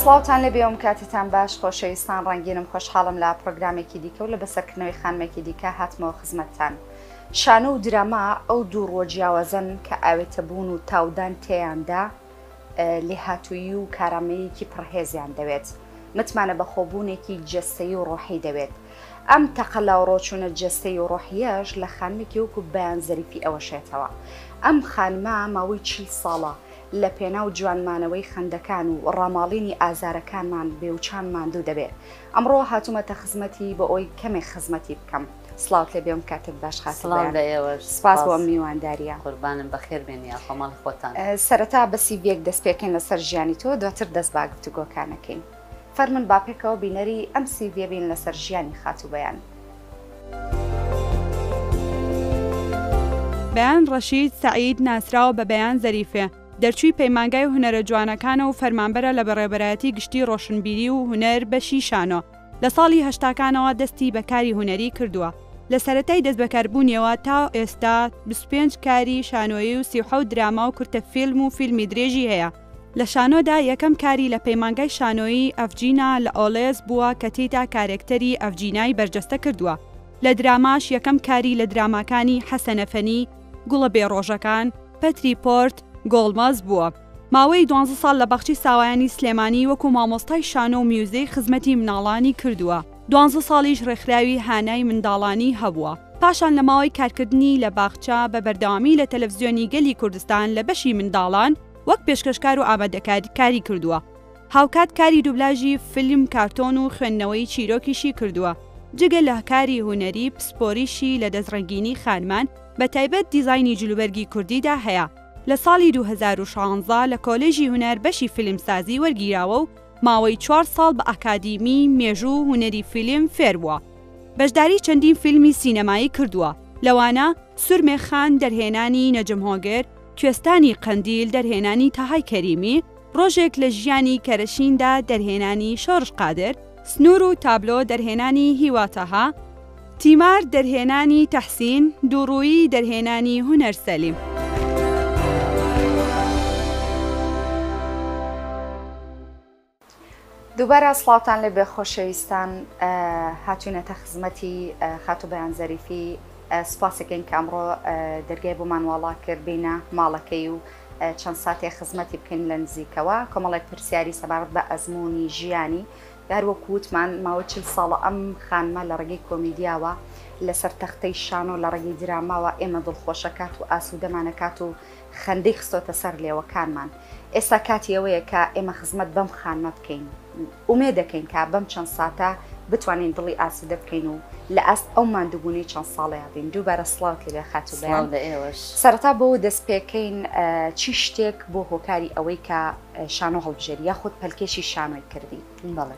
سڵاوتان لێبێ ئەم کاتتان باش خۆشەویستان ڕەنگینم خۆشحاڵم لە پرۆگرامێکی دیکە و لە بەسەرکردنەوەی خانمێکی دیکە هاتمەوە خزمەتتان. شانۆ و دراما ئەو دوو ڕۆژیاوازن کە ئاوێتە بوون و تاودان تێیاندا، لێهاتوویی و کارامەییەکی پڕهێزیان دەوێت، متمانە بەخۆبوونێکی جەستەیی و ڕۆحی دەوێت. ئەم تەقە لاوڕۆچوونە جەستەیی و ڕۆحییەش لە خانمێکی وەکو بەیان زەریفی ئەوەشێتەوە. ئەم خانمە ماوەی چل ساڵە لە پێناو جوانمانەوەی خەندەکان و ڕاماڵینی ئازارەکانمان بێوچان ماندوو دەبێ. ئەمڕۆ هاتومەتە خزمەتی بۆ ئەوی کەمێک خزمەتی بکەم سڵاوت لێ بێم کاتێک باش خاتڵ سپاس بۆ میوانداریە قوربانم بەخێر بێنی خۆمەڵ خۆتان سەرەتا بەسی بێک دەست پێکەین لەسەر ژیانی تۆ دواتر دەست باگرتو گۆکانەکەین فەرمن باپێکەوە بینەری ئەم سی بێبین لەسەر ژیانی خاتو بەیان. بەیان ڕەشید سەعید ناسراوە بە بەیان زەریفێ، دەرچووی پەیمانگای هونەرە جوانەکانە و فەرمانبەرە لە بەڕێوەبەرایەتی گشتی ڕۆشنبیری و هونەر بەشی شانۆ، لە ساڵی هەشتاکانەوە دەستی بە کاری هونەری کردووە، لە سەرەتای دەستبەکاربوونیەوە تا ئێستا بیست و پێنج کاری شانۆیی و سی و حەوت دراما و کورتە فیلم و فیلمی درێژی هەیە. لە شانۆدا یەکەم کاری لە پەیمانگای شانۆیی، ئەڤجینا، لە ئۆڵێس بووە کە تێیدا کارێکتەری، ئەڤجینای، بەرجەستە کردووە. لە دراماش یەکەم کاری لە دراماکانی، حەسەنەفەنی، گوڵە بێ ڕۆژەکان، پەتری پۆرت گۆڵمەز بووە. ماوەی دوانزە ساڵ لە باخچەی ساوایانی سلێمانی وەکو مامۆستای شانۆ و میوزیک خزمەتی مناڵانی کردووە، دوانزە ساڵیش ڕێکخراوی هانای منداڵانی هەبووە، پاشان لە ماوەی کارکردنی لە باخچە بە بەردەوامی لە تەلەفزیۆنی گەلی کوردستان لە بەشی منداڵان وەک پێشکەشکار و ئامادەکار کاری کردووە، هاوکات کاری دوبلاژی فیلم، کارتۆن و خوێندنەوەی چیرۆکیشی کردووە، جگە لە کاری هونەری پسپۆریشی لە دەستڕەنگینی خانمان، بە تایبەت دیزاینی جلوبەرگی کوردیدا هەیە، لە ساڵی دوو هەزار و شانزە لە کۆلێژی هونەر بەشی فیلمسازی وەرگیراوە و ماوەی چوار ساڵ بە ئاکادیمی مێژوو و هونەری فیلم فێر بووە، بەشداری چەندین فیلمی سینەمایی کردووە، لەوانە، سورمێ خان، دەرهێنانی، نەجم هۆگر، کوێستانی قەندیل، دەرهێنانی، تەهای کەریمی، ڕۆژێک لە ژیانی کەرەشیندا دەرهێنانی شۆرش قادر، سنوور و تابلۆ دەرهێنانی هیوا تەها، تیمار دەرهێنانی تەحسین، دووڕوویی دەرهێنانی هونەر سەلیم. دووبارە سڵاوتان لێبێ خۆشەویستان هاتوینەتە خزمەتی خاتو بەیان زەریفی سپاسەکەین کە ئەمڕۆ دەرگای بۆمان واڵا کرد بینە ماڵەکەی و چەند ساتێ خزمەتی بکەین لە نزیکەوە کۆمەڵێک پرسیاری سەبارەت بە ئەزمموی ژیانی هەروەک وتمان ماوە چل ساڵە ئەم خانمە لە ڕێگەی کۆمیدیاوە لەسەر تەختەی شانۆ لە ڕێگەی دراماوە ئێمە دڵخۆشەکات و ئاسوودەمانەکات و خەندەی خستۆتە سەر لێوەکانمان. ئێستا کاتی ئەوەیە کە ئێمە خزمەت بەم خانمە بکەین. ئومێد دەکەین کە بەم چەند ساتە بتوانین دڵی ئاسوودە بکەین و لە ئاست ئەو ماندووبوونەی چەند ساڵەیا بین. دووبارە سڵاوت لێبێ خاتوو بەیان. سڵاو لە ئێوەش. سەرەتا بەوە دەستپێکەین چی شتێک بووە هۆکاری ئەوەی کە شانۆ هەڵبژێری یاخود پەلکێشی شانۆی کردی؟ بەڵێ.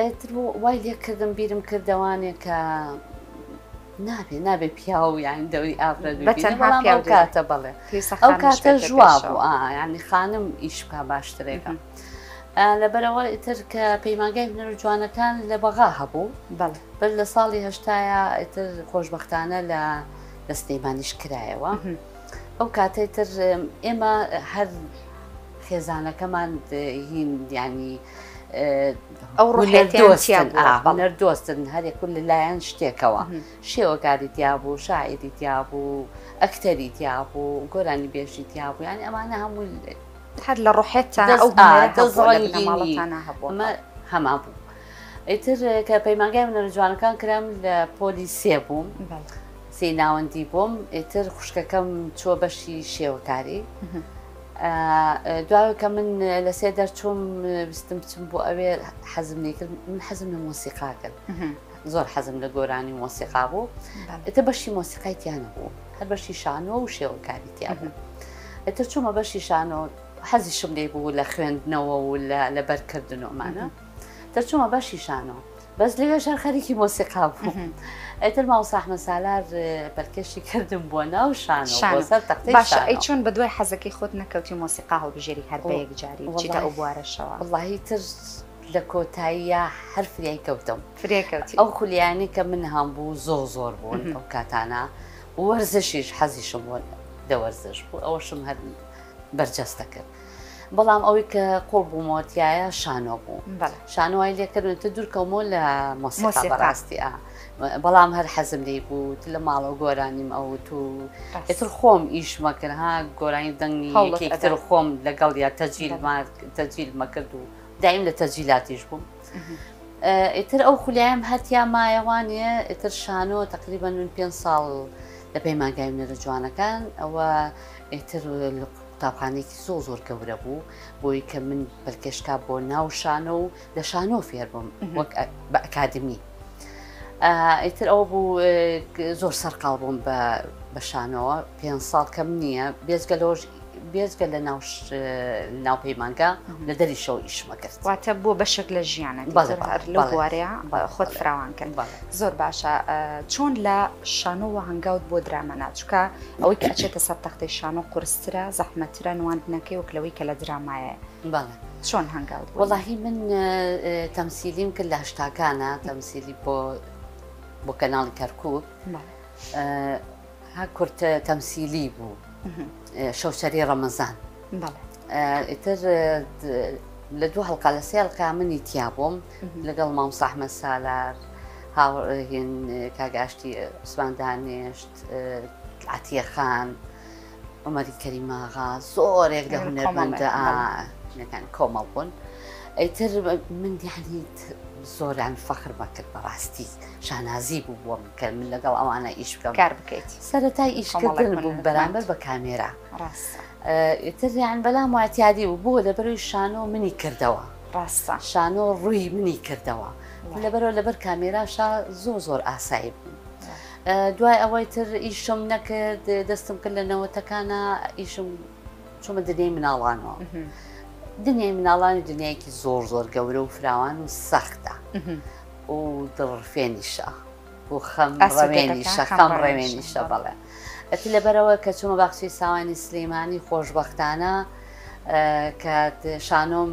ئیتر وای لێ کردم بیرم کردەوانێ کە نابێ نابێ پیاو یان دەوری ئافرەت کاتە بڵێ ئەو کاتە ژوا بوو ینی خانم ئیشکا باشترێکم. لەبەرەوە ئیتر کە پەیمانگای هونەر جوانەکان لە بەغا هەبوو بەر لە ساڵی هەشتاە ئیتر خۆشببختانە لە لە سلەیمانیش کرایەوە ئەو کاتێتر ئێمە هەر خێزانەکەمان هین یانی ئەوڕێنەردۆستن هەرێک و لەلایەن شتێکەوە شێوەکاری دیابوو شاعری دیابوو ئەکتەری دیابوو گۆرانی بێژی دیابوو یانی ئەمانە هەموو هەر لە ڕحێتان ئەو هەما بوو ئیتر کە پەیمانگای منەرە جوانەکان کرام لە پۆلی سێ بووم سی ناوەندی بووم ئیتر خوشکەکەم چوە بەشی شێوەکاری. دوای کە من لە سێ دەرچووم بستم بچم بۆ ئەوێ حەزم لێکرد من حەزم لە مۆسیقا کرد زۆر حەزم لە گۆرانی مۆسیقا بوو ئەتە بەشی مۆسیقای تیانە بوو هەر بەشی شانەوە و شێوەکاری تیا بوو ئەتە چوومە بەشی شانەوە حەزیشم لێ بوو لە خوێندنەوە و لە لەبەرکردنەوەمانە. دەرچوومە بەشی شانۆ بەس لەوێش هەر خەریکی مۆسیقا بوو ئەتر ماوساحمە سالار پەلکەشی کردم بۆ ناو شان سەر تەختی باشە ئەی چۆن بە دوای حەزەکەی خۆت نەکەوتی مۆسیقا هەڵبژێری هەر بە یەک جاری چیتە ئەو بوارەشەوە وڵی تر لە کۆتاییە هەر فریای کەوتم فریکەوتی ئەو خولیانی کە من هەم بوو زۆر زۆر بوون ئەو کاتانە وەرزشیش حەزیشم بوون دەوەرزش بوو ئەوەشم هەر بەرجەستە کرد. بەڵام ئەوەی کە قوڵ بوومەوە تایە شانۆ بوو شانۆی لێکردن تە دوورکەمەوە لە مۆسیقا بەڕاستی بەڵام هەر حەزم لی بوو لە ماڵەوە گۆرانیم ئەوت و ئێتر خۆم ئیش مەکرد ها گۆرانی دەنگی هەوڵێکتر خۆم لەگەڵ یا تەجیل تەجیل مەکرد و دایم لە تەجیلاتیش بووم. ئیتر ئەو خولیایم هەتیا مایەوانە ئیتر شانۆ تقریبا من پێ ساڵ لە پەیمانگای منێرە جوانەکان ئەوە ئیتر قوتابخانەیەکی زۆر زۆر گەورە بوو بۆی کە من پەلکێشکا بۆ ناو شانۆ و لە شانۆ فێربم وەک بە ئەکادمی ئیتر ئەوە بوو زۆر سەرقاڵ بووم بە بە شانەوە پێ ساڵ کەم نییە بێزگە لەۆژ بێزگە لە ناو ناو پەیمانگا لە دەری شەو ئیشمە کرد واتە بۆ بەشێک لە ژیانە بەڵێوارەیە خۆت فراوان کرد زۆر باشە چۆن لە شانۆوە هەنگاوت بۆ درامە ناچکە ئەوەی کە ئەچێتە سەر تەختەی شانۆ قورسترە زەحمەترە نواندنەکەی وەک لەوەی کە لە درامایە بەڵێ چۆن هەنگاوت وەڵاهی من تەمسیلیم کرد لە هەشتاکانە تەمسیلی بۆ بۆ کەناڵی کەرکک ها کورتە تەمسیلی بوو شەوچەری ڕەمەزان ئیتر لە دوو هەڵقا لە سێ هەڵقا منی تیا بووم لەگەڵ مام ساحمە سالار هاوڕێهێن کاگاشتی عوسمان دانێشت عەتیە خان، عومەری کەریماغا زۆرێک لە هونەرمەندەکان کۆمەڵ بوون. ئەیتر من دیانیت زۆران فەخر بەکرد بەڕاستی شانازی بوو بۆ من کە من لەگەڵ ئەوانە ئیش بکەم کار بکەیت سەرەتای ئیشکردن بوو بەرامبەر بە کامێرا ئیتریان بەلام واتیادی بوو بۆ لەبەروی شانۆ منی کردەوە ڕاستە شانۆ ڕووی منی کردەوە لەبەرەوە لەبەر کامێراشا زۆر زۆر ئاسایی بوو دوای ئەوەی تر ئیشم نەکرد دەستم کرد لە نەوەتەکانە ئیشم چۆمە دنیای مناڵانەوە دنیای مناڵانی دنیایەکی زۆر زۆر گەورە و فراوان و سەختە و دڵڕفێنیشە و خەم ڕەمێنیشە خەم ڕێمێنیشە بەڵێ ئەتی لەبەرەوە کە چوومە باخچەی ساوانی سلەیمانی خۆشببختانە کە شانۆم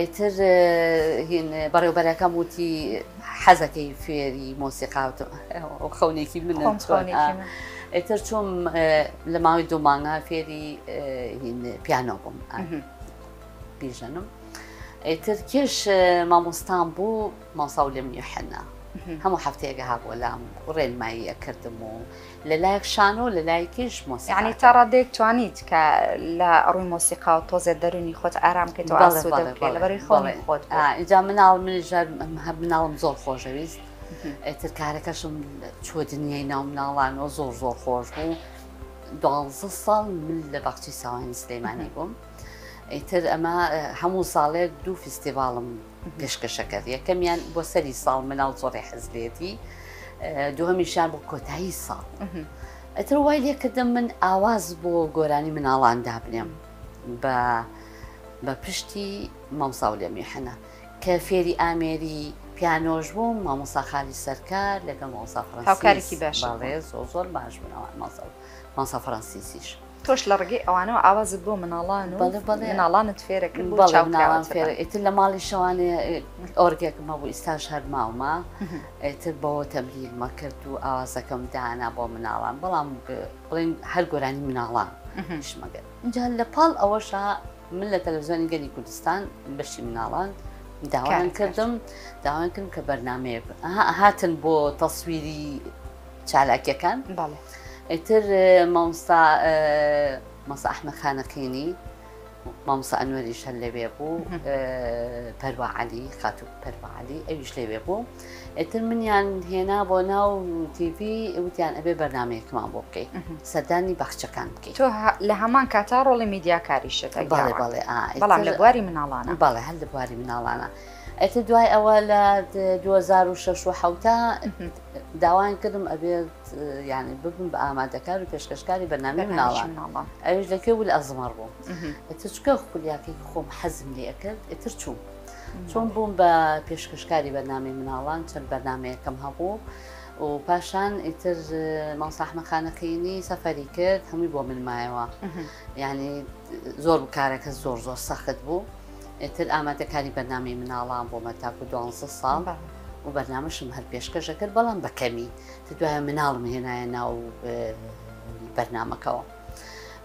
ئیتر هین بەڕێوبەرەکەم وتی حەزەکەی فێری مۆسیقاوت خەونێکی من ئیتر چۆم لە ماوەی دوو مانگا فێری پیانۆ بووم بیژەنم ئیتر کێش مامۆستان بوو مامۆستا ولیەم یوحەنا هەموو حەفتەیەک ئەهات بۆ لام ڕێنمایی ئەکردم و لە لایەک شانۆ لە لایەکیش مۆسیقا یانی تا ڕادەیەک توانیت کە لە ڕووی مۆسیقا و تۆزێ دەرونی خۆت ئارام بکەیت و ئاسوودە بکەیت لەبەرووی خۆڵی خۆت ئینجا مناڵ منیش هەم مناڵم زۆر خۆشەویست ئێتر کارەکەشم چووە دنیای ناو مناڵانەوە زۆر زۆر خۆش بوو دوازە ساڵ من لە باخچی ساوانی سلەیمانی بووم ئیتر ئەمە هەموو ساڵێک دوو فیستیڤاڵم پێشکەشەکەر یەکەمیان بۆ سەری ساڵ مناڵ زۆڕی حەزلێتی دووەمیشان بۆ کۆتایی ساڵ ئەتر وای لێکردم من ئاواز بۆ گۆرانی مناڵان دابنێم بە بە پشتی مامسااو لە میحەنە کە فێری ئامێری پیانۆش بووم مامۆساخالی سەرکار لەگەڵ مامۆسا فڕەنسیسی باڵێ زۆر زۆر باش بنەوە ماسە ماسە فڕەنسیسیش. تۆش لە ڕگەی ئەوانەوە ئاوازت بۆ مناڵان و مناڵانت فێرە کرد بۆ چاوکراوان فێرە ئیتر لە ماڵی شەوانێ ئۆرگێکم هەبوو ئیستاش هەر ماومە ئیتر بەوە تەمرینمە کرد و ئاوازەکەم دانا بۆ مناڵان بەڵام بڵێن هەر گۆرانی مناڵان شمەگەر اینجا لە پاڵ ئەوەشە من لە تەلەڤزیۆنی گەلی کوردستان بەشی مناڵان داوایان کردم داوایان کردم کە بەرنمەیە هاتن بۆ تەسویری چالاکیەکان ئیتر مامستا مەسە ئەحمە خانەقینی مامسا ئەنوەریش هەر لەوێ بوو پەرواعالی خاتو پەرواعالی ئەویش لەوێ بوو ئیتر منیان هێنا بۆ ناو TV وتیان ئەبێ بەرنمەیەکمان بۆ بکەیت سەردانی بەخچەکان بکەیت تۆ لە هەمان کاتا ڕۆڵی میدیاکاری شت بەڵێ بەڵێ بەڵام لە بواری مناڵانە بەڵێ هەر لە بواری مناڵانە ئەتە دوای ئەوە لە 2006 و حوتا داوایان کردم ئەبێت یانی ببم بە ئامادەکار و پێشکەشکاری بەنامی مناڵان ئەوش لەکوێ بوو لە ئەزمەڕ بووم ئەتر چکە خولیاکەی خۆم حەزم لێ ئەکرد ئەتر چووم چۆن بووم بە پێشکەشکاری بەنامی مناڵان چەند بەنامەیەکەم هەبوو و پاشان ئیتر ماوساحمەخانەقینی سەفەری کرد هەمووی بۆ من مایەوە یعنی زۆر بکارەکە زۆر زۆر سەخت بوو. ئیتر ئامادەکاری بەرنامەی مناڵان بۆمە تاکو دوانزە ساڵ و بەرنامەشم هەر پێشکەشەکرد بەڵام بەکەمی دوایە مناڵم هێنایە ناو بەرنمەکەەوە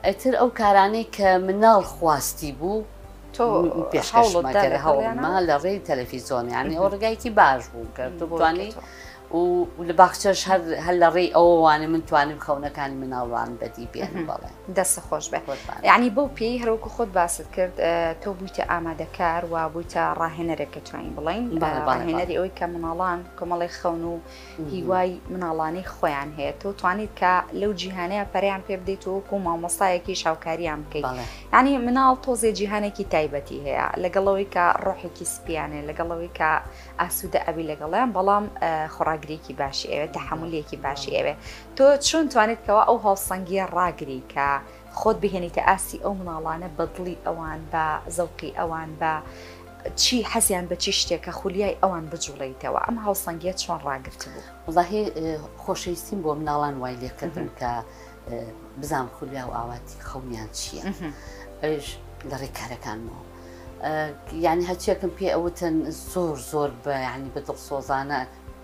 ئەتر ئەو کارانەی کە مناڵ خواستی بوو تۆ پێشکەشمەکەر هەوڵما لە ڕێی تەلەفیزۆنیانی ئەو ڕگایکی باش بوو کە دوبانی و لە باخچەش هەر لە ڕێی ئەووانێ من توانیم خەونەکانی مناڵوان بەدی بێن بەڵێ. دەست خۆش بێ یعنی بەو پێی هەروکو خۆت باست کرد تۆ بوویتە ئامادەکار و بوویتە ڕاهێنەرێک کە توانین بڵین ڕاهێنەری ئەوەی کە مناڵان کۆمەڵی خەون و هیوای مناڵانی خۆیان هەیە تۆ توانیت کە لەو جیهانەیە پەریان پێ بدەیت و وەکو مامۆستایەکی شاوکاریان بکەیت ینی مناڵ تۆزێ جیهانێکی تایبەتی هەیە لەگەڵەوەی کە ڕۆحێکی سپیانێ لەگەڵەوەی کە ئاسوودە ئەبی لەگەڵیان بەڵام خۆراگرێکی باشی ئەوێت تەحملێکی باشی ئەوێ تۆ چۆن توانیت کەوا ئەو هاوسەنگیە ڕاگری کە خۆت بهێنیتە ئاستی ئەو مناڵانە بە دڵی ئەوان بە زەوقی ئەوان بە چی حەزیان بە چی شتێکە خولیای ئەوان بجوڵیتەوە ئەم هاوسەنگیە چۆن ڕاگرت بوو وڵاهی خۆشەویستیم بۆ مناڵان وای لێکردن کە بزان خولیا و ئاواتی خەونیان چییە ئەوش لە ڕێکارەکانمەوە یعنی هەچیەکەم پێ ئەوتن زۆر زۆر بە ینی بە دڵسۆزانە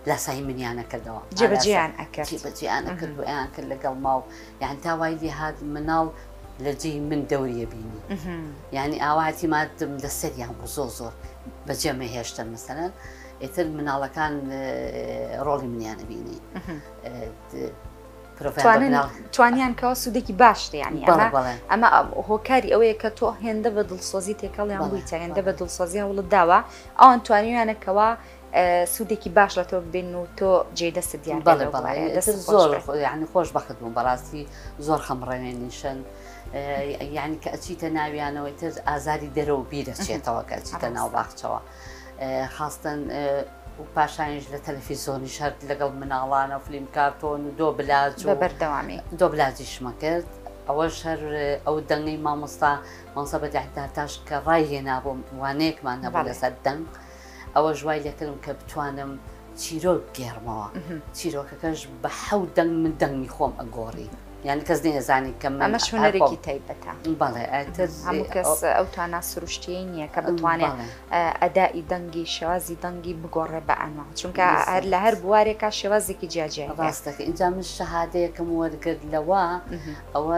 لاسایی منیانە کردەوە جێبەجێیان ئەکرد جێبەجێیان ئەکرد و ئەیان کرد لەگەڵ ماو یان تا وای لێ هات مناڵ لە جێی من دەوریە بینی یعنی ئاواتی مادم لە سەریان بوو زۆ زۆر بەجێ مەهێشتن مەسەرەن ئێتر مناڵەکان ڕۆڵی منیانە بینی توانیان کەەوە سوودێکی باشتە ینی ئەمە هۆکاری ئەوەیە کە تۆ هێندە بە دڵسۆزی تێکەڵیان بوویتە هێندە بە دڵسۆزی هەوڵت داوە ئەوان توانیویانەکەەوە سوودێکی باش لە تۆ ببین و تۆ جێ دەست دیار زۆر ینی خۆش بەخت بووم بەڕاستی زۆر خەمڕەوێن نیشن ینی کە ئەچیتە ناویانەوەی تر ئازاری دەرەوە بیرەچێتەوە کە ئەچیتە ناو باخچەوە خاستن و پاشانش لە تەلەفیزۆنی شەرت لەگەڵ مناڵانە و فلیم کارتۆن و دۆ بلاج و بەردەوامی دۆ بلاجیشمە کرد ئەوە شەر ئەو دەنگی مامۆستا مامسە بەدەهداتاش کە ڕای هێنابووم وانەیەکمان نەبوو لەسەر دەنگ. ئەوەش وای لێکردم کە بتوانم چیرۆک بگێڕمەوە چیرۆکەکەش بە حەو دەنگ من دەنگی خۆم ئەگۆڕی یان کەس نێزانانی کە ئەمە شوێنەرێکی تایبەتە بەڵێ هەموو کەس ئەو توانا سروشتیی نییە کە بتوانێت ئەدائی دەنگی شێوازی دەنگی بگۆڕێ بە ئەنوە چونکە هەر لە هەر بوارێکا شێوازێکی جیاجیا ڕاستەکە ئینجا من شەهادەیەکەم وەرگرت لەوە ئەوە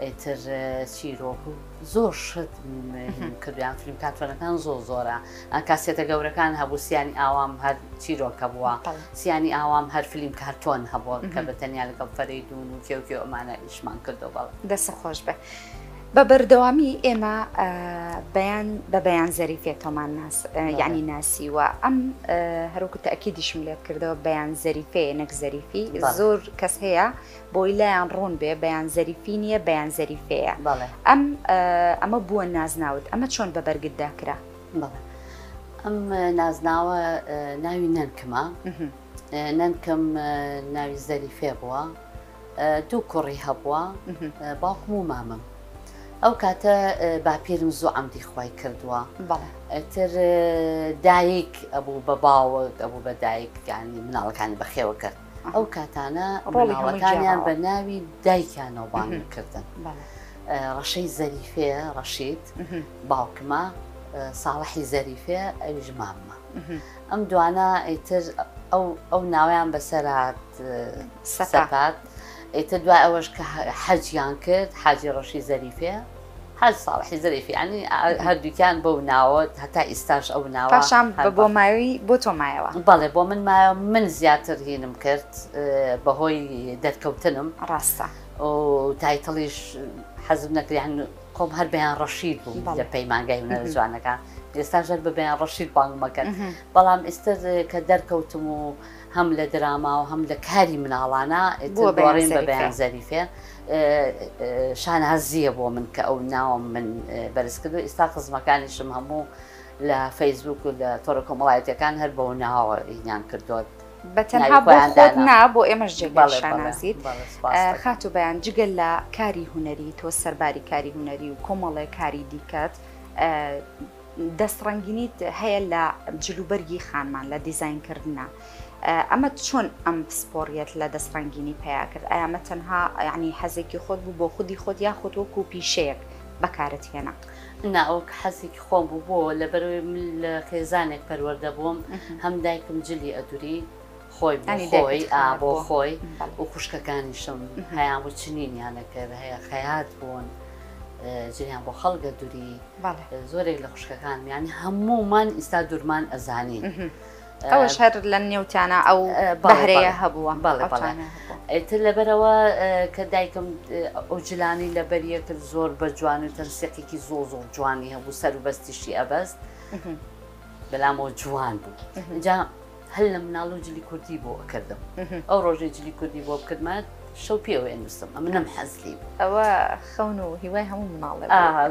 ئیتر چیرۆک و زۆر شت کردیان فیلم کاتوەنەکان زۆر زۆرە کاسێتە گەورەکان هەبوو سیانی ئاوام هەر چیرۆکە بووە سیانی ئاوام هەر فیلم کارتۆن هەبووە کە بە تەنیا لەگەڵ فەرەی دوون و کێوکێ ئەمانە ئیشمان کردو بەڵ دەسە خۆش بێ. بە بەردەوامی ئێمە بەیان بە بەیان زەریفێ تۆمان ناس یعنی ناسی و ئەم هەروکو تاکیدیشم لێت کردەوە بەیان زەریفێ نەک زەریفی زۆر کەس هەیە بۆی لایان ڕوون بێ بەیان زەریفی نییە بەیان زەریفەیە ئەم ئەمە بووە نازناوت ئەمە چۆن بە بەرگتدا کرا ئەم نازناوە ناوی نەنکمە نەنکم ناوی زەریفێ بووە دوو کوڕی هەبووە باوکم و مامم ئەو کاتە باپیرم زوو ئەمدی خی کردووە تر دایک ئەبوو بە باوەک ئەبوو بە دایکانی مناڵەکانی بەخێوە کرد ئەو کاتانە ڕۆڵەکانیان بە ناوی دایکیانەوە بانگکردن ڕەشەی زەریفێ ڕەشید باوکمە ساڵحی زەریفێ ئەویش ماممە ئەم دوانە ئەیتر ئەو ناویان بەسەرات سەپات ئێتە دوای ئەوەش کە حەجیان کرد حاجی ڕەشی زەریفێ حاج ساڵحی زەریف یانی هەردووکیان بەو ناوە هەتا ئیستاش ئەو ناوە پاشان بە بۆ ماوی بۆ تۆ مایەوە. بەڵێ بۆ من مایەوە من زیاتر هینم کرد بە هۆی دەرکەوتنم. ڕاستە. و تایتڵیش حەزم نەکرد یان خۆم هەر بەیان ڕەشید بووم لە پەیمانگای هونەرە جوانەکان ئێستا ژەر بە بەیان ڕەشید بانگم ئەکەن بەڵام ئێستا کە دەرکەوتم و هەم لە دراما و هەم لە کاری مناڵانە ئێتر گۆڕیم بە بەیان زەریفێ. شانازییە بۆ من کە ئەو ناوم من بەرز کردو ئیستا خزمەکانیشم هەموو لە فەیسبوک و لە تۆڕە کۆمەڵایەتەکان هەر بەو ناوە ئینیان کردوت بەتەنها بۆ خۆت نا بۆ ئێمەش جێگای شانازیت خاتو بەیان جگە لە کاری هونەری تۆ سەرباری کاری هونەری و کۆمەڵێ کاری دیکەت دەست ڕەنگینیت هەیە لە جلوبەرگی خانمان لە دیزین کردنا ئەمە چۆن ئەم پسپۆڕیت لە دەست ڕەنگینی پیا کرد ئەمە تەنها ینی حەزێکی خۆت بوو بۆ خودی خۆت یا خۆت وەکو پیشەیەک بەکارت هێنا ناوەک حەزێکی خۆم بوو بۆ لەبەرەوەی من لە خێزانێک پەروەەردە بووم هەم دایکم جلی ئەدوری خۆی بۆ خۆی ئا بۆ خۆی و خوشکەکانیشم هەیان و چنینیانە کرد هەیە خەیات بوون جیان بۆ خەڵگە دووری زۆرێک لە خوشکەکان میانی هەمومان ئیستا دوورمان ئەزانی ئەوش هەر لە نێوتیانە ئەو بەهرەیە هەبووە بەڵێ بەڵێ ئێتر لەبەرەوە کە دایکم ئەو جلانی لە بەریە کرد زۆر بە جوان و تەرسێقێکی زۆ زۆ جوانی هەبوو سەر و بەستیشی ئەبەست بەلامەوە جوان بوو جا هەر لە مناڵو جلی کوردی بۆ ئەکردم ئەو ڕۆژەی جلی کوردی بۆ بکردمە شەو پێ ئەوێ نووسم ئەمە نەم حەزلی ئەوە خەون و هیوای هەموو مناڵێ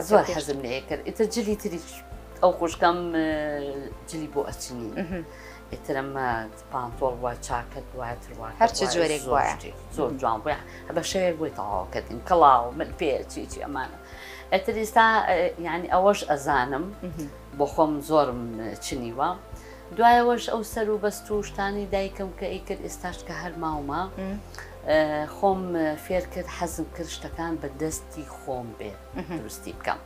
زۆر حەزم لێ کرد ئیتە جلی تری ئەو خوشکەم جلی بۆ ئەچنی ئیترەمە پانتۆڵ وە چاکەت واتروا هەرچ جۆرێک وایە زۆر جوان بە بە شەوێک بۆی تەواوکردین کەڵاو من پێ چیچی ئەمانە ئەتر ئێستا یعنی ئەوەش ئەزانم بۆ خۆم زۆرم چنیوە. دوایەوەش ئەو سەر و بەست و شتانەی دایکم کە ئەیکرد ئێستاش کە هەر ماومە خۆم فێر کرد حەزم کرد شتەکان بە دەستی خۆم بێ دروستی بکەم.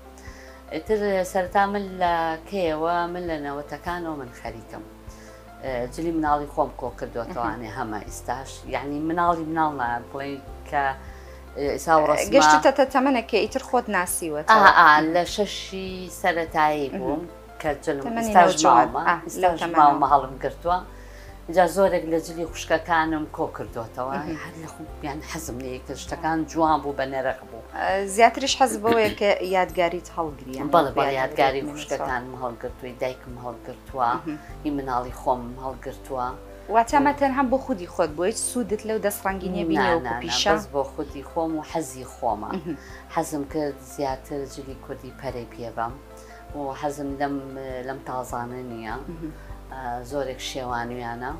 ئیتر سەرتا من لە کەیەوە من لە نەوەتەکانەوە من خەریکم جلی مناڵی خۆم کۆ کردوەتەوانێ هەمە ئیستاش یعنی مناڵی مناڵ بڵێ کە گەشتتە تەمەەکە ئیتر خۆت ناسیوە لە شەشی سەتایی بووم. کە جلم تەمەنی ئیستاش نەوجەوان ماومە ئاه لەو ئیستاش تەمەنەوە. ماومە هەڵم گرتووە جا زۆرێک لە جلی خوشکەکانم کۆ کردووەتەوە مهم. هەر لە خوب یان حەزم لێی کرد شتەکان جوان بوو بە نەرخ بوو زیاتریش حەز بەوەیە کە یادگاریت هەڵگری یان بەڵێ بەڵێ یادگاری یادگاری بمێنێتەوە. خوشکەکانم هەڵگرتووی دایکم هەڵگرتووە مهم. ئی مناڵی خۆم هەڵگرتووە واتە ئەمە تەنها بۆ خودی خۆت بووە هیچ سوودت لەو دەست ڕەنگی نیە نا بینی نا وەکو نا پیشە؟ بەس بۆ خودی خۆم و حەزی خۆمە مهم. حەزم کرد زیاتر جلی کوردی پەرەی پێ بەم و حەزم لەم لەم تازانە نییە زۆرێک شێوانویانە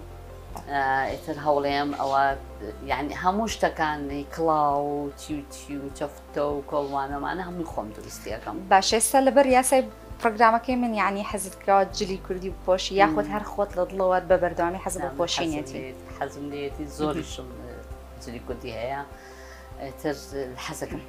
ئیتر هەوڵێم ئەوە یعنی هەموو شتەکانی کڵاو و تیوتی و چەفتە و کۆڵوانەمانە هەمووی خۆم دروستیەکەم باشێستا لەبەر یاسای پرۆگرامەکەی من یعنی حەزت کراوە جلی کوردی بپۆشی یاخود هەر خۆت لە دڵەوە بە بەردەوامی حەز بە پۆشینێتی حەزم لێتی زۆریشم جلی کوردی هەیە تر حەزەکەم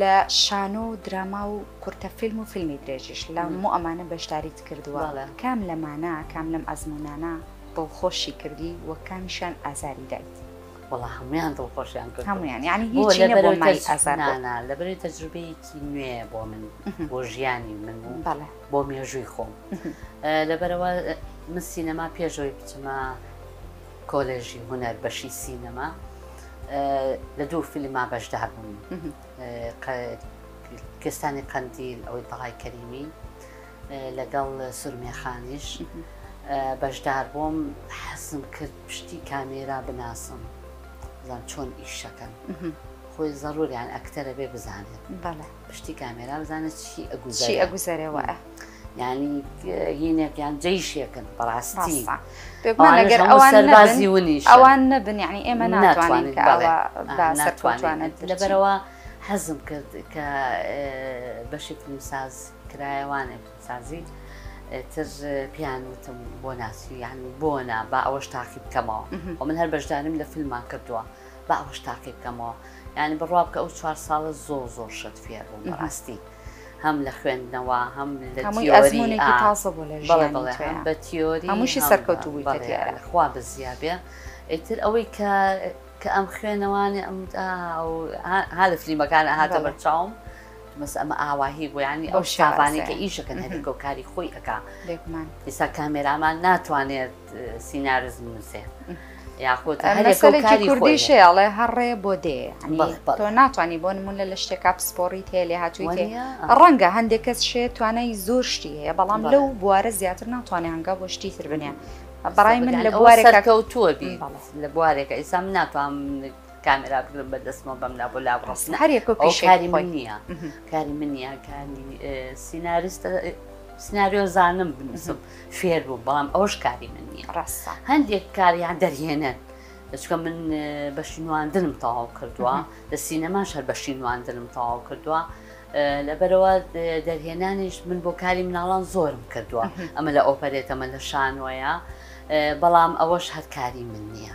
لە شانۆ و دراما و کورتە فیلم و فیلمی درێژیش لە مو ئەمانە بەشداریت کردووە کام لەمانە کام لەم ئەزمونانە دڵخۆشی کردی وە کامیشان ئازاری دایت وڵا هەمویان دڵخۆشیان کرد هەمویان ینی هیچنانە لەبری تەجروبەیەکی نوێ بۆ من بۆ ژیانی من بۆ مێژووی خۆم لەبەرەوە من سینەما پێشەوەی بچمە کۆلێژی هونەر بەشی سینەما لە دوو فیلما بەشدار بووم کستانی قندیل ئەوەی تەڵای کەریمی لەگەڵ سورمێخانیش بەشدار بووم حەسم کرد پشتی کامێرا بناسم زان چۆن ئیشەکەن خۆی زەڕوریان ئەکتەرە بێ بزانێت پشتی کامێرا بزانێت چی ئەگوزی ئەگوزەرەوە. یانی هینێک یان جەیشێکن بەڕاستی سەربازی ونی ئەوان نەبن یعنی ئێمە ناتوانین سەرتوانێت لەبەرەوە حەزم کرد کە بەشی فیلمساز کرایەوانێ فیلمسازی تر پیان وتم بۆ ناسی یان بۆ نا با ئەوەش تاقی بکەمەوە و من هەر بەشداریم لە فیلممان کردووە با ئەوەش تاقی بکەمەوە یعنی بڕوا بکە ئەو چوار ساڵە زۆ زۆر شت فێر بوو بەڕاستی. هەم لە خوێندنەوە هەم لە تیۆری تازە بۆ لە بەڵێ بەڵێ هەم بە تیۆری هەمووشی سەرکەوتو بووی بەڵێ خوا بزیابێ ئیتر ئەوەی کە کە ئەم خوێنەوانێ ئەم ها لە فلیمەکان هاتە بەرچاوم مەس ئەمە ئاواهی بۆ ینی ئەو شابانێکە ئیشەکەن هەرێکۆکاری خۆی ئەک ئیسا کامێرامان ناتوانێت سینارز نووسێ یاخود هەرێکاری کوردی شێڵێ هەڕێ بۆ دێ تۆ ناتوانانی بۆ نمونە لە شتێکا پسپۆری تێ لێ هاتووی تێ ڕەنگە هەندێک کەس شێ توانای زۆر شتی هەیە بەڵام لەو بوارە زیاتر ناتوانێ هەنگا بۆ شتی تر بنێ بەڕای من لە بوارێکە کەوتووە بی لە بوارێکە ئیسا من ناتوانم کامێرا بگرم بە دەستمەوە بەم لا بۆ لا بڕستن هەرێک کاری من نییە کاری من نیە کاری سیناریستە سناریۆ زانم بنووسم فێر بووم بەڵام ئەوش کاری من نییە ڕاستە هەندێک کاریان دەرهێنن چکە من بەشی نواندنم تەواو کردووە لە سینەما شەر بەشی نواندنم تەواو کردووە لەبەرەوە دەرهێنانیش من بۆ کاری مناڵان زۆرم کردووە ئەمە لە ئۆپەرێتەمە لە شانۆیە بەڵام ئەوەش هەرکاری من نییە.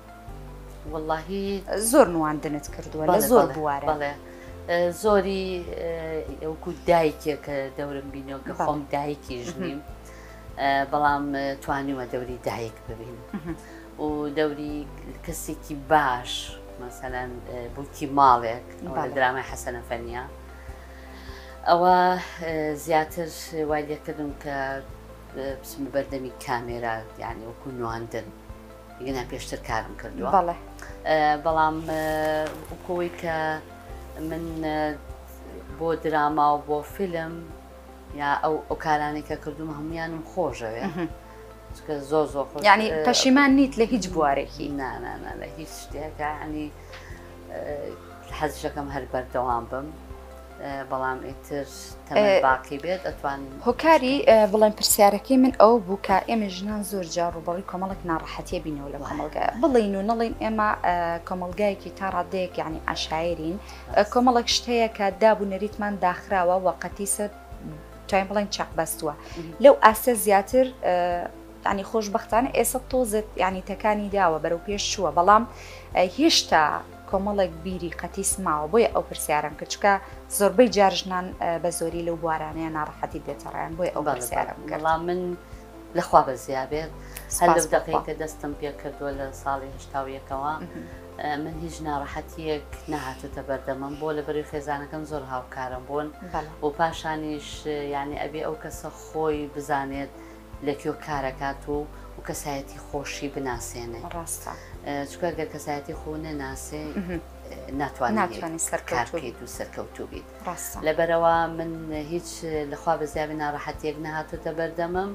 وەڵاهی زۆر نواندنت کردووە لە زۆر بوارە بەڵێ زۆری ئەوکو دایکێک کە دەورم بینەوە کە خۆم دایکیش نیم بەڵام توانیوە دەوری دایک ببین و دەوری کەسێکی باش مەسەەن بووکی ماڵێک درامای حەسەنە فەنیا ئەوە زیاتر وای لێکردم کە بچمە بەردەمی کامێرا یعنی وەکو نواندن ینا پێشتر کارم کردووە بەڵێ بەڵام وکۆی کە من بۆ دراما و بۆ فیلم یا ئەو ئەو کارانی کە کردوم هەمویانم خۆشەوێ چکە زۆر زۆر خۆ ینی پەشیمان نیت لە هیچ بوارێکی نانانا لە هیچ شتێکە ینی حەزشەکەم هەر بەردەوام بم بەڵام ئیتر تەمەن باقی بێت ئەتوان هۆکاری بڵێن پرسیارەکەی من ئەو بوو کە ئێمە ژنان زۆر جا ڕوبەڕی کۆمەڵک ناڕەحەتیە بینەوە لە کۆمەلگا بڵین و نەڵین ئێمە کۆمەلگایەکی تا ڕادەیەک یعنی عشاعرین کۆمەڵک شتەیە کە داب و نەریتمان داخراوە وەقەتی سەر توانین بڵێن چەق بەستووە لەو ئاستە زیاتر یانی خۆشبەختانە ئێسە تۆزێت یانی تەکانی داوە بەرەو پێش چووە بەڵام هێشتا کۆمەڵێک بیری قەتیس ماوە بۆیە ئەو پرسیارم کرد چکە زۆربەی جار ژنان بە زۆری لەو بوارانەیە ناڕەحەتی دێتەڕیان بۆی ئەو پرسیارم کرد بەڵام من لەخوا بە زیابێت هەر لەو دەقەی کە دەستم پێ کردووە لە ساڵی هشتا و یەکەوە من هیچ ناڕەحەتیەک نەهاتوتە بەردەمم بۆ لە بەری خێزانەکەم زۆر هاوکارم بوون بەڵ و پاشانیش یعنی ئەبێ ئەو کەسە خۆی بزانێت لە کوێ کارەکات و و کەسایەتی خۆشی بناسێنێ ڕاستە چکە گەر کەسایەتی خۆ نەناسێ ناتوانانی سەرکارکەیت و سەرکەوتوو بیت ڕاستە لەبەرەوە من هیچ لەخوا بە زیابی ناڕەحەتێک نەهاتوتە بەردەمم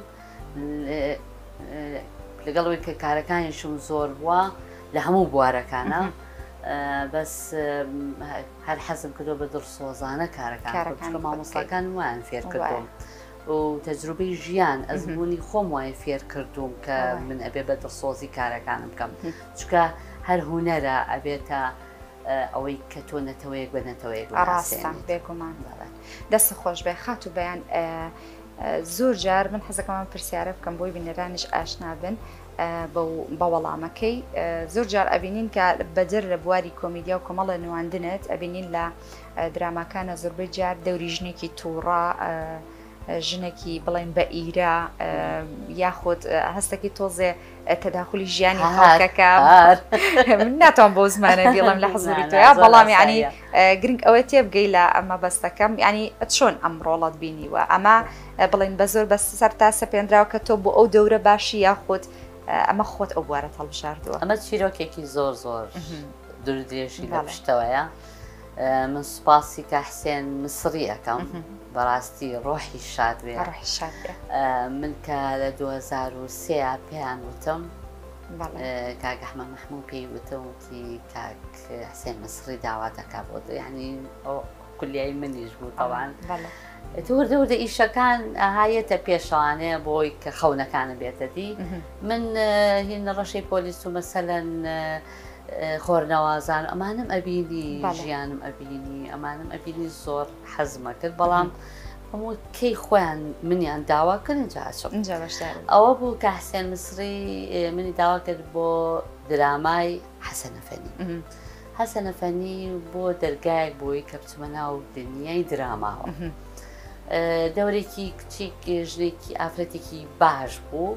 لەگەڵەوەی کە کارەکانیشم زۆر بووە لە هەموو بوارەکانە بەس هەر حەزم کردو بە دڵ سۆزانە کارەکان مامۆستاکان وان فێر کردم. و تەجروبەی ژیان ئەزمونی خۆم وای فێر کردووم کە من ئەبێ بە دڵسۆزی کارەکانم بکەم چکە هەر هوەرە ئەبێتە ئەوەی کە تۆ نەتەوەیەک بە نەتەوەیەک ڕاستە بێگومان دەست خۆش بێ خات و بەیان زۆر جار من حەزەکەمان پرسیارە بکەم بۆی بینەرانش ئاشنابن بە وەڵامەکەی زۆر جار ئەبینین کە بەدەر لە بواری کۆمیدیا و کۆمەڵە نواندنت ئەبینین لە دراماکانە زوربەی جار دەوری ژنێکی توڕە ژنێکی بڵێن بە ئیرە یاخود هەستەکی تۆزێ تەداخلی ژیانی هاکەکە من ناتوان بۆ زمانە بیڵم لە حزوری تۆیا بەڵام ینی گرنگ ئەوەی تێبگەی لە ئەمە بەستەکەم ینی چۆن ئەم ڕۆڵەت بینیوە ئەمە بڵین بە زۆر بە سەر تا سەپێنراوە کە تۆ بۆ ئەو دەورە باشی یاخود ئەمە خۆت ئەو بوارە هەڵبژاردووە ئەمە چیرۆکێکی زۆر زۆر دورودێژی لە پشتەوەیە من سوپاسی کا حسێن مسڕی ئەەکەم بەڕاستی ڕۆحی شاد بێ من کە لە 2023 پێیان وتم کاگەحمە مەحموو پێی وتم وتی کاک حسێن مسڕی داوا دەکا بۆ ینی ئەو کولیای منیش بوو تاوان وردە وردە ئیشەکان هایەتە پێشوانەیە بۆی کە خەونەکانە بێتەدی من هی نەڕەشەی پۆلیس و مەسەەن خۆرنەوازان ئەمانم ئەبینی ژیانم ئەبینی ئەمانم ئەبینی زۆر حەزمە کرد بەڵام هەموو کەی خۆیان منیان داوا کردن جاچم ئەوە بوو کە حسێن مسری منی داوا کرد بۆ درامای حەسەنەفەنی حەسەنەفەنی بۆ دەرگایەک بۆی کە بچمە ناو دنیای دراماوە دەورێکی کچێک ژنێکی ئافرەتێکی باش بوو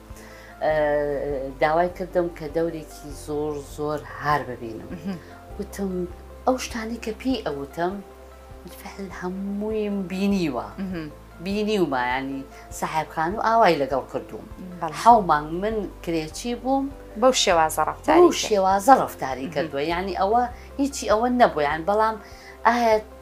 داوای کردم کە دەورێکی زۆر زۆر هار ببینم وتم ئەو شتانی کە پێی ئەوتم فعل هەموویم بینیوە بینی و مایانی سەحبخان و ئاوای لەگەڵ کردووم حومانگ من کرێچی بووم بەو شێوازە ڕفتاری شێوازە ڕفتاری کردووە یعنی ئەوە هیچی ئەوە نەبوویان بەڵام ئایا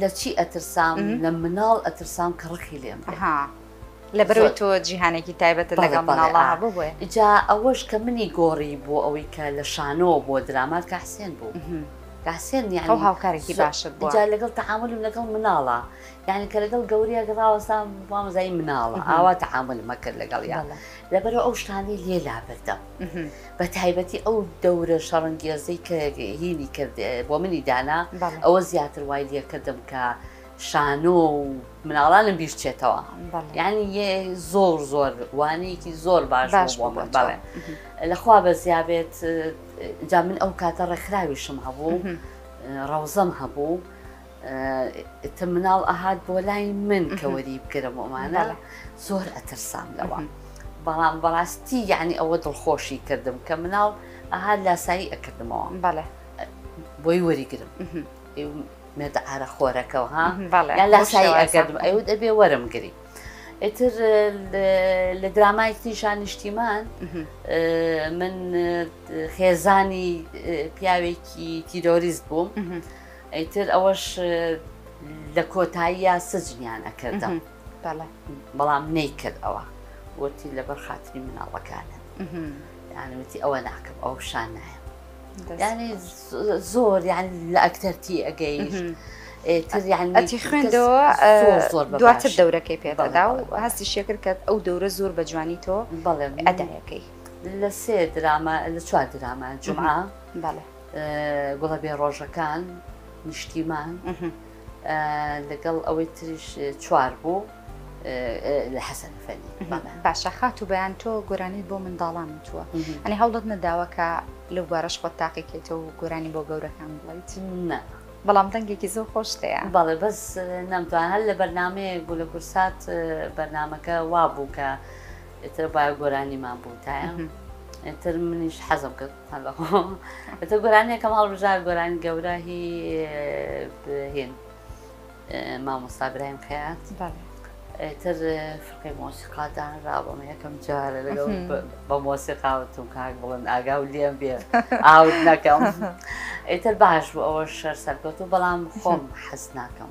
لە چی ئەترسام لە مناڵ ئەترسام کە ڕقی لێم بێ ها لەبەرەوەی تۆ جیهانێکی تایبەتە لەگەڵ مناڵە هەبوو بۆیە ئیجا ئەوەش کە منی گۆڕی بۆ ئەوەی کە لە شانۆ بۆ درامات کە حسێن بوو کە حسێن یان ئەو هاوکارێکی باشت بوو جا لەگەڵ تەعاملم لەگەڵ مناڵە یعنی کە لەگەڵ گەورەیە گەڕاوەستا مامۆزای مناڵە ئاوا تەعاملمە کرد لەگەڵیان لەبەرەوە ئەو شتانەی لێ لابردەم بە تایبەتی ئەو دەورە شەڕەنگێزەی کە هینی کرد بۆ منی دانا ئەوە زیاتر وای لێکردم کە شانۆ و مناڵانم بیرچێتەوە یعنی زۆر زۆر وانەیەکی زۆر باش باش بۆ من بەڵێ لەخوا بەزیابێت جا من ئەو کاتە ڕێکخراویشم هەبوو ڕەوزەم هەبوو ئیتر مناڵ ئەهات بۆ لای من کە وەری بگرم ومانە زۆر ئەترسام لەوە بەڵام بەڕاستی یعنی ئەوە دڵخۆشی کردم کە مناڵ ئەها لاسایی ئەکردمەوە بەڵێ بۆی وەریگرم مێردە ئارە خۆرەکەەوە ها یا لاسایی ئەگەردم ئەو دەبێ وەرم گری ئیتر لە درامای تیشان نیشتیمان من خێزانی پیاوێکی تیرۆریست بووم. ئیتر ئەوەش لە کۆتاییە سجنیان ئەکردم بەڵام نەیکرد ئەوە وتی لەبەر خاتری مناڵەکانت یانوتی ئەوە ناکەم ئەو شان نایە ینی زۆر یان لە ئەکتەرتی ئەگەیش ئەتی خوێندەوە دواتر دەورەکەی پێدادا و هەستی شێکرد کە ئەو دەورە زۆر بە جوانی تۆ بەڵێ ئەدایەکەی لە سێ درامە لە چوار درامە جمعە بەڵێ گوڵە بێ ڕۆژەکان نیشتیمان لەگەڵ ئەوەی تریش چوار بوو لە حەسەن فەنی باشە خات و بەیان تۆ گۆرانی بۆ منداڵان وتووە ئەنی هەوڵت نەداوەکە لەو بارەش خۆت تاقیکێتەوە و گۆرانی بۆ گەورەکان بڵیت نە بەڵام دەنگێکی زۆر خۆشتەیە بەڵێ بەس نەمتوان هەر لە بەرنمەیەک بوو لە کورسات بەرنمەکە وا بوو کە ئیتر با گۆرانیمان بوتایە ئیتر منیش حەزم کرد هەڵەخۆ ئەتە گۆرانیەکەم هەڵبژا گۆرانی گەورە هی هێن مامۆستا برایم خەیات تر فرقی مۆسیقا دانرا بەم یەکەم جارە لەگەڵ بە مۆسیقاوتم کاک بڵن ئاگا و لێم بێ ئاوت نەکەم ئیتر باش بوو ئەوە شەر سەرکەوت و بەڵام خۆم حەز ناکەم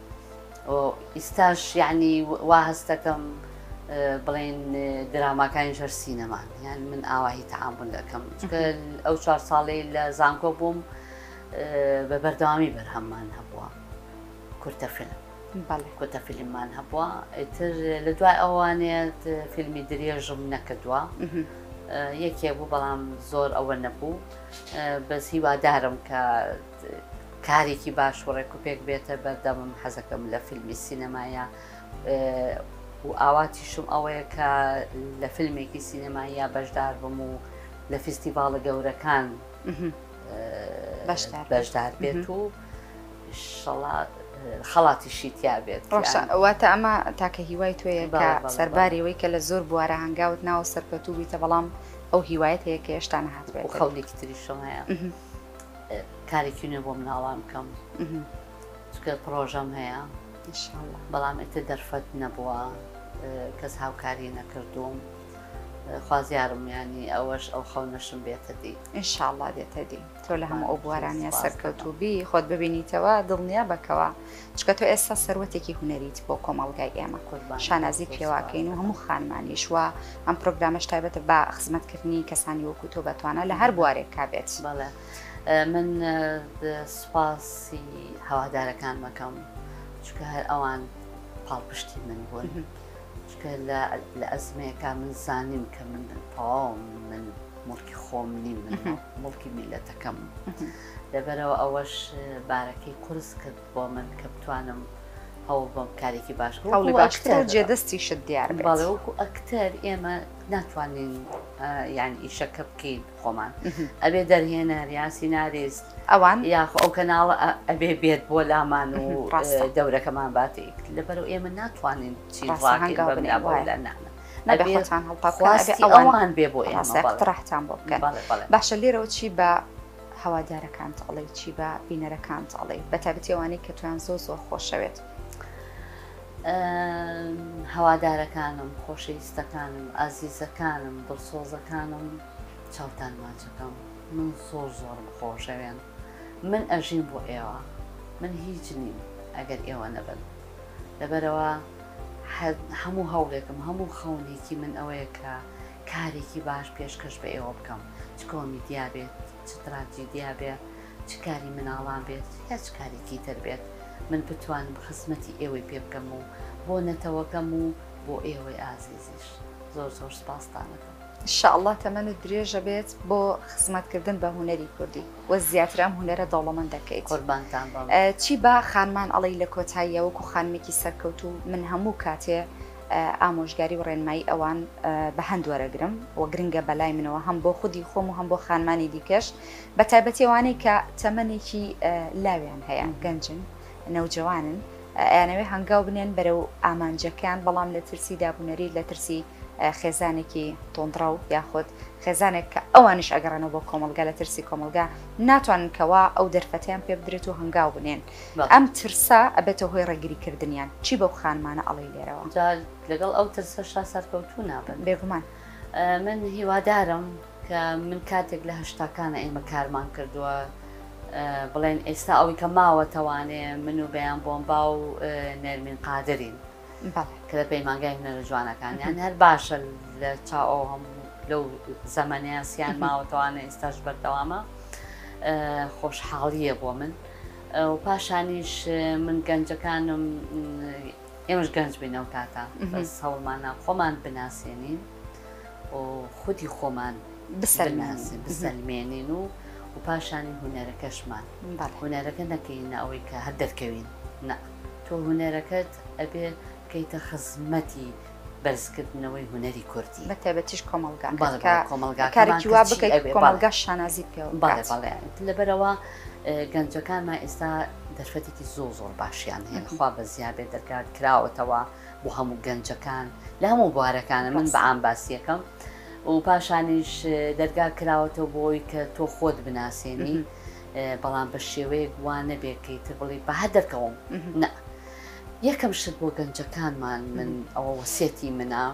ئیستاش یەعنی وا هەستەکەم بڵێن دراماکانیش هەر سینەمان یان من ئاواهی تەعامل دەکەم ئەو چوار ساڵی لە زانکۆ بووم بە بەردەوامی بەرهەممان هەبووە کورتە فیلم کۆتە فیلممان هەبووە ئیتر لە دوای ئەوانێت فیلمی درێژم نەکردووە یەکێ بوو بەڵام زۆر ئەوە نەبوو بەس هیوادارم کە کارێکی باش و ڕێک و پێک بێتە بەردەمم حەزەکەم لە فیلمی سینەمایە و ئاواتیشم ئەوەیە کە لە فیلمێکی سینەمایە بەشدار بم و لە فیستیڤاڵە گەورەکان بەشدار بێت و شڵات خەڵاتی شیتیا بێت واتە ئەمە تاکە هیوای توێیە کە سەرباریەوەی کە لە زۆر بوارە هەنگاوت ناوە سەرکەوتوبیتە بەڵام ئەو هیوایەت هەیە کە هێشتا نهات بێت خەڵێکی تریشم هەیە کارێکی نوێ بۆ مناڵان بکەم چکە پرۆژەم هەیە بەڵام ئێتە دەرفەت نەبووە کەس هاوکاری نەکردوم خوازیارم ینی ئەوەش ئەو خەونەشم بێتە دی ئینشاءله دێتە دی تۆ لە هەموو ئەو بوارانە سەرکەوتوبی خۆت ببینیتەوە دڵنیا بەکەوە چکە تۆ ئێستا سەروەتێکی هونەریت بۆ کۆمەڵگای ئێمە شانازی پێواکەین و هەموو خانمانیش وە ئەم پرۆگرامەش تایبەتە بە خزمەتکردنی کەسانی وەکو تۆ بەتوانە لە هەر بوارێک کا بێت بەڵێ من سوپاسی هەوادارەکان مەکەم چکە هەر ئەوان پاڵپشتی من بوون چکە لە ئەزمەیەەکە من زانیم کە من تەواو من مڵکی خۆم نیم من مڵکی میلەتەکەم لەبەرئەوە ئەوەش بارەکەی قورس کرد بۆ من کە بتوانم هەوڵ بۆم کارێکی باش هەوڵی باشتر جێ دەستی شت دیار باڵێ وەکو ئەکتەر ئێمە ناتوانین یان ئیشەکە بکەین خۆمان ئەبێ دەرهێنەر یان سیناریست ئەوان یاخ ئەو کەناڵە ئەبێ بێت بۆ لامان و دەورەکەمان باتی لەبەر ئێمە ناتوانین چین ئەوان بێ بۆ ئێمە ڕاحتان بۆ بکەن باشە لێرەوە چی بە هەوادارەکانت ئەڵێی چی بە بینەرەکانت ئەڵێی بە تابەتی ئەوانەی کە تویان زۆ زۆر خۆشەوێت هەوادارەکانم خۆشەویستەکانم ئازیزەکانم دڵسۆزەکانم چاوتان ماچەکەم من زۆر زۆرم خۆشەوێن من ئەژین بۆ ئێوە من هیچ نیم ئەگەر ئێوە نەبن لەبەرەوە هەموو هەوڵێکم هەموو خەونێکی من ئەوەیە کە کارێکی باش پێشکەش بە ئێوە بکەم چ کۆمیدیا بێت چ تراجیدیا بێ چ کاری مناڵان بێت یا چ کارێکی تر بێت من بتوانم خزمەتی ئێوەی پێ بکەم و بۆ نەتەوەکەم و بۆ ئێوەی ئازیزیش زۆر زۆر سپاستانەکەم شاءله تەمەنت درێژە بێت بۆ خزمەتکردن بە هوەری کوردی وە زیاتر ئەم هوەرە دەوڵەمەند دەکەیت قوربانتان چی با خانمان ئەڵی لە کۆتاییەوەکو خانمێکی سەرکەوت و من هەموو کاتێ ئامۆژگاری و ڕێنمایی ئەوان بە هەند وەرەگرم و گرنگە بە لای منەوە هەم بۆ خودی خۆم و هەم بۆ خانمانی دیکەش بە تایبەتیوانەی کە تەمەێکی لاویان هەیە گەنجن نەوجەوانن ئەیانەوێ هەنگاو بنێن بەرە و ئامانجەکان بەڵام لە ترسی دابوونەری لە ترسی خێزانێکی تۆندڕە و یاخود خێزانێک کە ئەوانش ئەگەڕێنەوە بۆ کۆمەلگا لە ترسی کۆمەلگا ناتوانن کەوا ئەو دەرفەتیان پێ بدرێت و هەنگاو بنێن. ئەم ترسە ئەبێتە هۆی ڕێگری کردنیان. چی بەو خانمانە ئەڵێی لێرەوە؟ جا لەگەڵ ئەو ترسەشا سەرکەوتوو نابن. بێگومان. من هیوادارم کە من کاتێک لە هەشتاکانە ئێمە کارمان کردووە بڵێن ئێستا ئەوی کە ماوە تەوانێ من و بەیان بۆمبا و نێرمین قادرین. بەڵێ کە لە پەیمانگای هونەرە جوانەکان یان هەر باشە لە چاو ئەو هەموو لەو زەمەنەیە سیان ماوەتەوانە ئێستاش بەردەوامە خۆشحاڵیە بۆ من و پاشانیش من گەنجەکانم ئێمەش گەنج بینەوە تاتا بەس هەوڵمانە خۆمان بناسیێنین و خودی خۆمان بسەرناسی بسەلمێنین و و پاشانی هوەرەکەشمان هوەرەکە نەکەین ئەوەی کە هەر دەرکەوین نە. تۆ هونەرەکەت ئەبێ بکەیتە خزمەتی بەرزکردنەوەی هونەری کوردی بە تایبەتیش کۆمەڵگاکەت کە کارێکی وا بکەیت کۆمەڵگاش شانازیت پێوە بکات لەبەرەوە گەنجەکانمان ئێستا دەرفەتێکی زۆر زۆر باشیان هەیە خوا بە زیابێ دەرگات کراوەتەوە بۆ هەموو گەنجەکان لە هەموو بوارەکانە من بە ئام باسیەکەم و پاشانیش دەرگا کراوەتەوە بۆی کە تۆ خۆت بناسیێنی بەڵام بە شێوەیەک وا نەبێت کە ئیتر بڵێ بە هەر دەرکەوم نە یەکەم شت بۆ گەنجەکانمان من ئەوە وەسێتی منە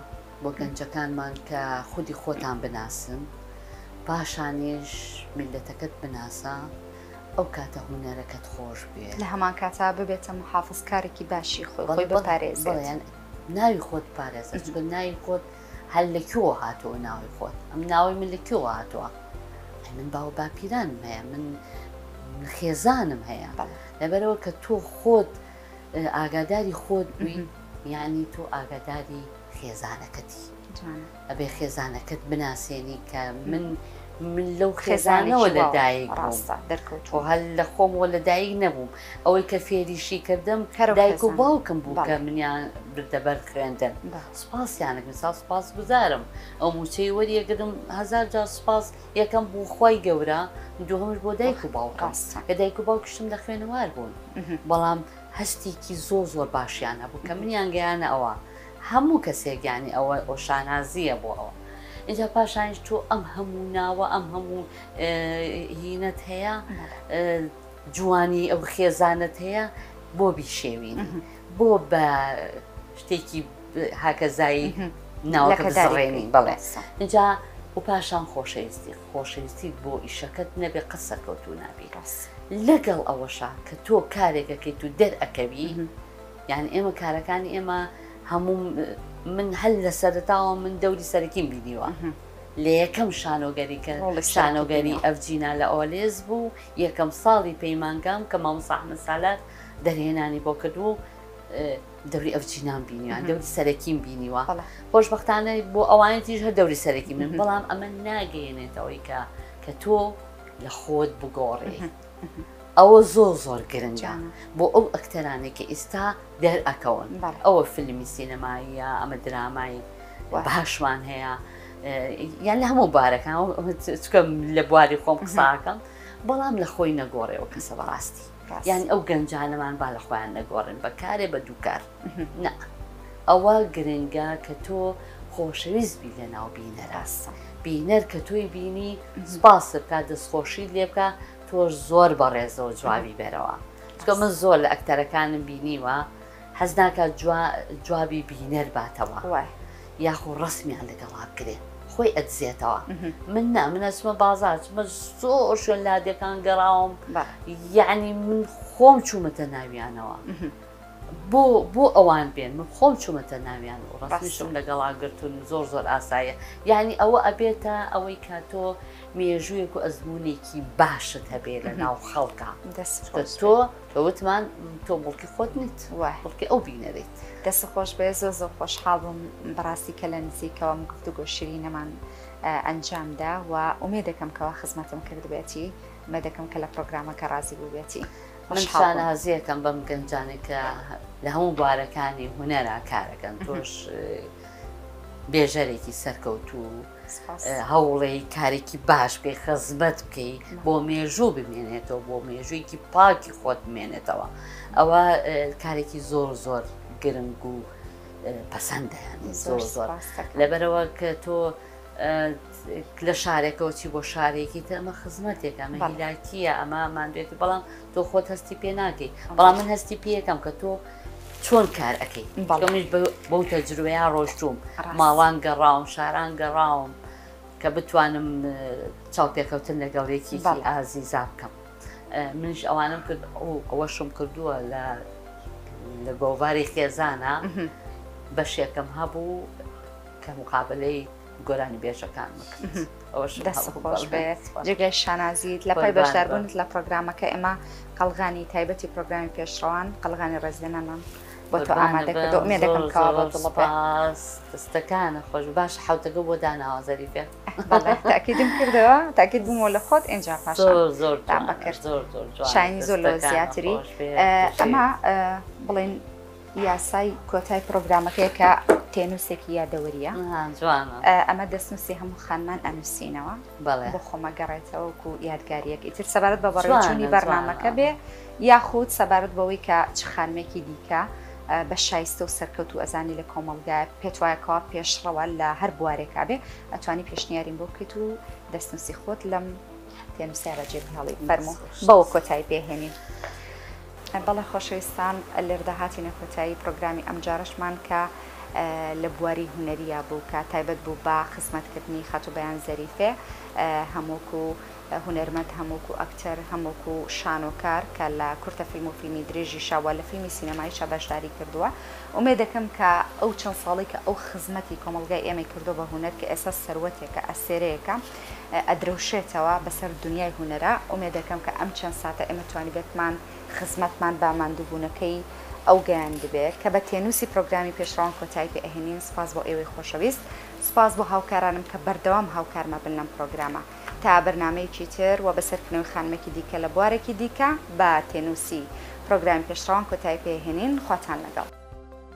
بۆ گەنجەکانمان کە خودی خۆتان بناسن پاشانیش میلەتەکەت بناسە ئەو کاتە هوەرەکەت خۆش بێ لە هەمان کاتا ببێتە محافظکارێکی باشی خۆی خۆی بپارێزیان ناوی خۆت پارێزە چگە ناوی خۆت هەر لە کوێوە هاتووە ناوی خۆت ئەم ناوی من لە کوێوە هاتووە ئەی من باو باپیرانم هەیە من خێزانم هەیە لەبەرەوە کە تۆ خۆت ئاگاداری خۆت بووی یعنی تۆ ئاگاداری خێزانەکەتی ئەبێ خێزانەکەت بناسیێنی کە من من لەو خێزانەوە لەدایک ڕاستە دەرکەوت و هەل لە خۆمەوە لەدایک نەبووم ئەوەی کە فێریشی کردم هەرایک و باوکم بوو کە منیان بردەبەر خوێندن سوپاس یانە گونساو سوپاس گوزارم ئەو موچەی وەریەگرم هەزار جار سوپاس یەکەم بوو خی گەورە دوهمش بۆ دایک و باوکاس کە دایک و باوکشتم لە خوێنەوار بوون بەڵام هەستێکی زۆ زۆر باشیان هەبوو کە منیان گەیانە ئەوە هەموو کەسێکیانی ئەوە ئەو شانازیە بۆ ئەوە اینجا پاشانش تۆ ئەم هەموو ناوە ئەم هەموو هینەت هەیە جوانی ئەو خێزانەت هەیە بۆ بیشێوین. بۆ بە شتێکی هاکەزایی ناوەکە بزڕێنی بەڵێ اینجا و پاشان خۆشەویستی خۆشەویستی بۆ ئیشەکەت نەبێ قە سەرکەوتو نابی ڕاست لەگەڵ ئەوەشە کە تۆ کارێکەکەیت و دەرئەکەوی یان ئێمە کارەکانی ئێمە هەموو من هەل لە سەرتاوە من دەوری سەرکیم بینیوە لە یەکەم شانۆگەری کە شانۆگەری ئەفجینا لە ئۆلێز بوو یەکەم ساڵی پەیمانگام کە مامساحمە سالار دەرهێنانی بۆ کردووە و دەوری ئەو چینام بینیوان دەوری سەرەکیم بینیوە خۆشببختانە بۆ ئەوانە تیژ هە دەوری سەرەکی من بەڵام ئەمە ناگەیەنێتەوەی کە کە تۆ لە خۆت بگۆڕێ ئەوە زۆر زۆر گرنگە بۆ ئەو ئەکتەرانی کە ئیستا دەرئەکەون ئەوە فیلمی سینەماییە ئەمە درامایی باشمان هەیە یان لە هەموو بارەکان لە بواری خۆم قساکەم بەڵام لە خۆی نەگۆڕێەوە کەسە بەڕاستی. یان ئەو گەنجانەمان با لە خۆیان نەگۆڕێن بە کارێ بە دوو کار نا ئەوە گرنگە کە تۆ خۆشەویست بی لە ناو بینەراستە بینەر کە تۆی بینی سپاس بکە دەستخۆشی لێ بکە تۆش زۆر بەڕێزەوە جوابی بەرەوە چکە من زۆر لە ئەکتەرەکانم بینیوە حەز ناکات جوابی بینەر باتەوە یاخۆ ڕسمیان لەگەڵا بکرێ خۆی ئەدزێتەوە من نا من ئەچمە بازار چمە زۆر شوێن لادەکان گەڕاوم یعنی من خۆم چوومەتە ناویانەوە بۆ بۆ ئەوان بێن من خۆم چوومەتە ناویان و ڕاستیشم لەگەڵا گرتون زۆر زۆر ئاسایە یعنی ئەوە ئەبێتە ئەوەی کاتۆ مێژوویەک و ئەزمونێکی باشت هەبێ لە ناو خەڵکە دەست تۆ وتمان تۆ بڵکی خۆت نیت وە بڵکی ئەو بینەریت. دەست خۆش بێ زۆ زۆ خۆش حاڵ بووم بەڕاستی کە لە نزیکەوە من گفتو گۆ شیرینەمان ئەنجام دا و ئومێ دەکەم کەوا خزمەتم کرد بێتی ئومێ دەکەم کە لە پرۆگرامە کە ڕازی بوو بێتی من شانازیەکەم بەم گەنجانێک کە لە هەموو بوارەکانی هوەرا کارەکەن تۆش بێژەرێکی سەرکەوتوو. هەوڵێ کارێکی باش بێ خەزمەت بکەی بۆ مێژوو بمێنێتەوە بۆ مێژوویکی پاکی خۆت بمێنێتەوە ئەوە کارێکی زۆر زۆر گرنگ و پەسەندە زۆر زۆر لەبەرەوە کە تۆ لە شارێکەوە چی بۆ شارێکی تەمە خزمەتێک ئەمە هیلاکیە ئەمە مادوێتی بەڵام تۆ خۆت هەستی پێ ناکەی بەڵام من هەستی پێەکەم کە تۆ چۆن کار ئەەکەی بەڵمیش بەو تەجروەیە ڕۆشتوم ماڵان گەڕاوم شاران گەڕاوم کە بتوانم چاوپێکەوتن لەگەڵێکی ئازی زاب بکەم منش ئەوانم کرد ئەو ئەوەشم کردووە لە لە گۆڤاری خێزانە بەشێکم هەبوو کە مقابلەی گۆرانی بێژەکان جێگای شانازیت لە پای بەشداربوونت لە پرۆگرامەکە ئێمە قەلغانی تایبەتی پرۆگرامی پێشڕوان قەلغانی ڕێزدەنەمان بۆ تۆ ئامادەکردمێ دەکەم کاوەستەکانە خۆش باش حوتەکە بۆ داناوازەری پێ تاکیدم کردەوە تاکیت بوومەوە لە خۆت ئینجا پاش زۆر زۆر بەکرد زۆر زۆر شاین زۆر لە زیاتری ئەمە بڵین یاسای کۆتای پرۆگرامەکەیە کە تێنووسێکی یادەوەریە ئەمە دەستنووسی هەموو خانمان ئەنووسینەوە بۆ خۆمە گەڕێتەوەکو یادگاریەک ئیتر سەبارەت بە بەڕێچوونی بەرنمەکە بێ یاخود سەبارەت بەوەی کە چ خانمێکی دیکە بە شایستە و سەرکەوت و ئەزانی لە کۆمەلگای پێت وایەکەوە پێشڕەوە لە هەر بوارێکا بێ ئەتوانی پێشنیاریم بۆ بکەیت و دەستنووسی خۆت لەم پێم سارە جێبهێڵی فەرموو بەوە کۆتایی پێهێنین بەڵێ خۆشەویستان لێردا هاتینە کۆتایی پرۆگرامی ئەمجارشمان کە لە بواری هوەریە بوو کە تایبەت بوو بە خزمەتکردنی خەتوبیان زەریفێ هەمووک و هوەرمەند هەمووک و ئەکتەر هەمووک و شانۆکار کە لە کورتە فیلم و فیلمی درێژی شاوە لە فیلمی سینەمای شەبەشداری کردووە ئومێ دەکەم کە ئەو چەند ساڵی کە ئەو خزمەتی کۆمەلگای ئێمەی کردو بە هوەر کە ئێستا سەروەتێکە ئەسێرەیەەکە ئەدرەوشێتەوە بەسەر دونیای هونەرا، ئومێدەکەم کە ئەم چەند ساتە ئێمە توانیبێتمان خزمەتمان بە ماندووبوونەکەی ئەو گەیاندبێ، کە بە تێنووسی پرۆگرامی پێشڕەوان کۆتایی پێ ئەهێنین، سپاس بۆ ئێوەی خۆشەویست، سپاس بۆ هاوکارانم کە بەردەوام هاوکارمە بن لەم پرۆگرامە، تا بەرنامەیەکی تر و بە سەرکونەوەی خانمێکی دیکە لە بوارێکی دیکە، بە تێنووسی پرۆگرامی پێشڕەوان کۆتایی پێ ئەهێنین، خواتان لەگەڵ.